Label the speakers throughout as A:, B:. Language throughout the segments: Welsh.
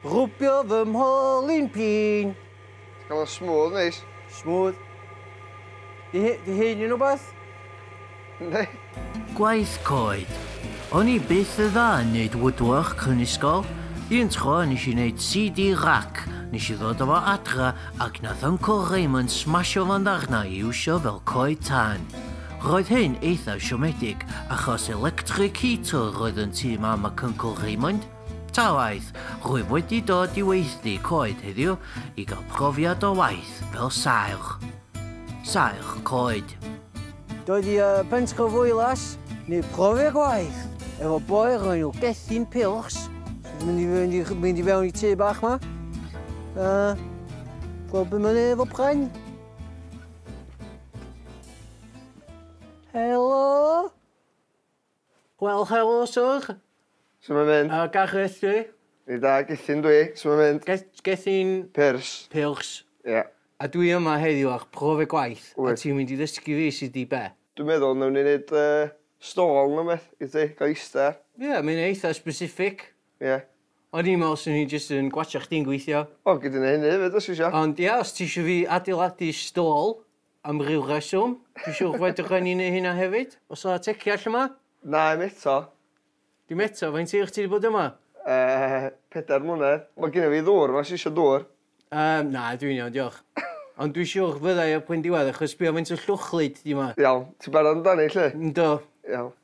A: Rhwbio fy mholyn pin. Ti'n cael o'n
B: smooth neis. Smooth.
A: Di, he- di hyn yn rhywbeth? Yndi.
B: Gwaith
C: coed. O'n i byth y dda yn neud woodwork yn ysgol. Un tro nes i neud CD rac, nes i ddod â fo adra ac nath Uncle Raymond smasho fo'n ddarnau i iwsio fel coed tân. Roedd hyn eitha siomedig achos electric heater oedd yn tŷ mam ac Uncle Raymond. Ta waeth, rwyf wedi dod i weithdy coed heddiw i gael profiad o waith fel saerch. Saerch coed. Dod
A: i Bentre Foelas neu profi gwaith efo boi roi nhw gethyn pilchs, mynd i fynd i mynd i fewn i tŷ bach ma. A gweld beth mae'n efo pren. Helo? Wel helo Syr. Su mae'n mynd?
B: Yy da geth ti?
A: Fi da gethyn
B: dwi, su mae'n mynd? Geth- gethyn... Pyrs.
A: Pyrs.
B: Ie.
A: A
B: dwi yma
A: heddiw ar profiad gwaith. Wyt. A ti'n mynd i ddysgu fi
B: sut
A: i be? Dwi'n meddwl newn ni
B: neud yy stôl ne wbeth i ti ga'l ista ar. Ie mae'n eitha
A: specific. Ie.
B: O'n i'n me'wl
A: swn i jyst yn gwatsiad chdi'n gweithio. O gei di neu' hynny efyd
B: os ti isio. Ond ia os ti isio fi
A: adeiladu stôl Am ryw reswm. Dwi'n siwr fedrwch ni neu hynna hefyd. Os a teci all yma? Na, i'm eto.
B: Dim eto?
A: Faint hir ti wedi bod yma? Uh, pedair
B: mlynedd. Mae gen i fi ddŵr, mae'n sisio dŵr. Um, na, dwi'n
A: iawn, diolch. Ond dwi'n siwr fyddai ar pwynt diwedd, achos sbio faint o llwchlyd di yma. Iawn, ti'n barod amdani,
B: lle? Ynddo. Iawn.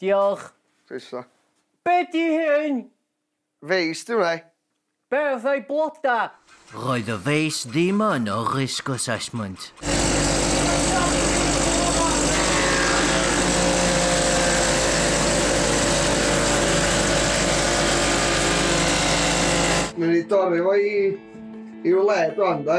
B: Diolch.
A: Croeso.
B: Be di
A: hyn? Feist
B: yw hwnna. Be oedd ei
A: bloda? Roedd y
C: feist ddim yn y risk assessment.
B: Newn ni dorri fo i i'w le rwan de.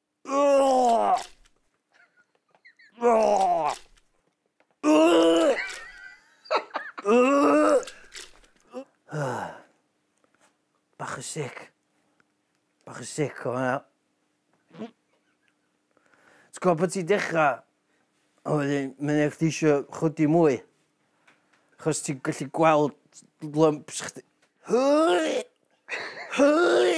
A: Bach yn sic. Bach yn sic o hwnna. Ti'n gwybod bod ti'n dechrau, a wedyn mae'n eich di eisiau chwdi mwy. Chos ti'n gallu gweld lumps chdi. Hwy! Hwy!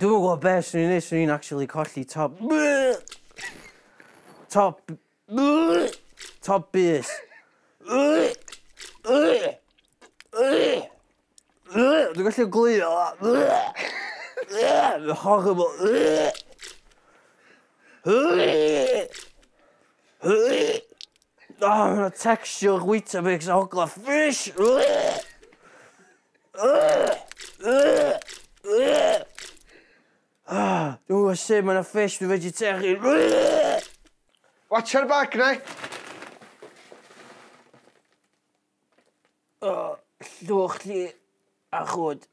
A: Dwi'm yn gwybod be' swn i'n neud swn i'n actually colli top top top bys. Dwi'n gallu ogleuo. Mae'n horrible. Oh, mae'n texture Weetabix a hogla fish. Ah, dwi'n gwybod sut mae'n fish, dwi'n vegetarian.
B: Watch ar bag, neu?
A: O, llwch chi a
C: chwd.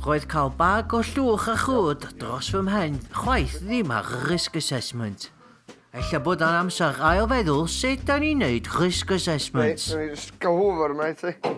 C: Roedd cael bag o llwch a chwd dros fy mhen chwaith ddim ar y risk assessment. Ella bod o'n amser ail feddwl sut da ni'n neud risk assessments. Reit, rwy'n ysgol Hoover
B: yma i ti.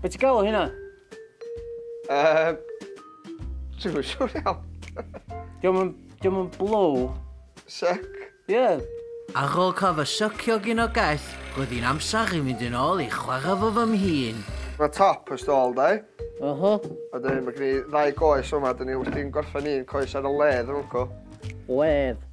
A: Be ti'n galw hynna? Uh,
B: Dwi'n siŵr iawn.
A: Diolch yn blow. Sec.
B: Ie. Yeah.
A: Ar ôl
C: cof y sycio gyn o gell, roedd hi'n amser i fynd yn ôl i chwarae fo fy mhîn. Mae top y
B: stôl, da. Oho. A dyn, mae gen i ddau goes yma, dyn ni wrthi'n gorffen un coes ar y ledd, yn wrco. Ledd.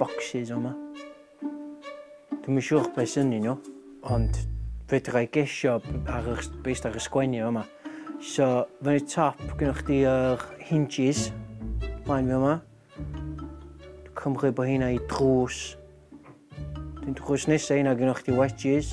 A: Bocsys o 'ma. Dwi'm yn siŵr beth sy'n nhw, ond fedra i gesio ar y, based ar y sgwennu o 'ma. So, fe y top, gynnwch chdi yr hinges, plaen fi yma. Cymru bod hynna i drws. Dwi'n drws nesaf hynna gynnwch chdi wedges.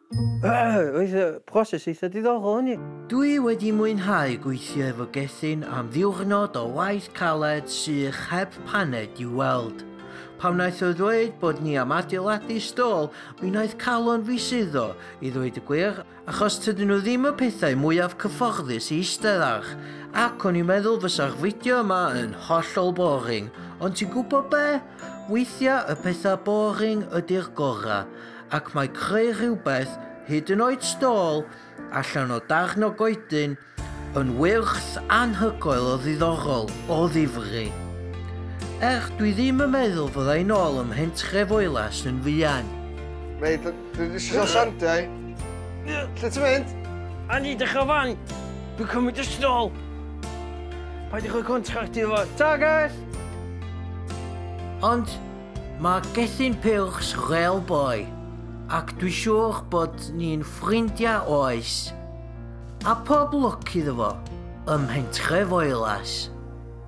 A: Roedd y broses eitha diddorol yn ni. Dwi wedi
C: mwynhau gweithio efo Gethin am ddiwrnod o waith caled sych heb paned i'w weld. Pan wnaeth o ddweud bod ni am adeiladu stôl mi wnaeth calon fi suddo, i ddweud y gwir, achos tydyn nhw ddim y pethau mwyaf cyfforddus i eistedd ar, ac o'n i'n meddwl fysa'r fideo yma yn hollol boring, ond ti'n gwybod be? Weithiau y pethau boring ydi'r gorau. ac mae creu rhywbeth, hyd yn oed stôl, allan o darn o goedyn, yn wyrth anhygoel o ddiddorol, o ddifri. Er, dwi ddim yn meddwl fyddai'n ôl ym Mhentref Oelas yn fuan. Mate, dwi
B: wedi siarad sandiau. Lle ti'n mynd? A ni dechrau
A: fan. Dwi'n cymryd y stol. Paid i chwe contract i fo. Ta, guys!
C: Ond, Mae Gethin Purkes fel boi, ac dwi siŵr bod ni'n ffrindiau oes. A pob lwc iddo fo ym mhentrefoelas.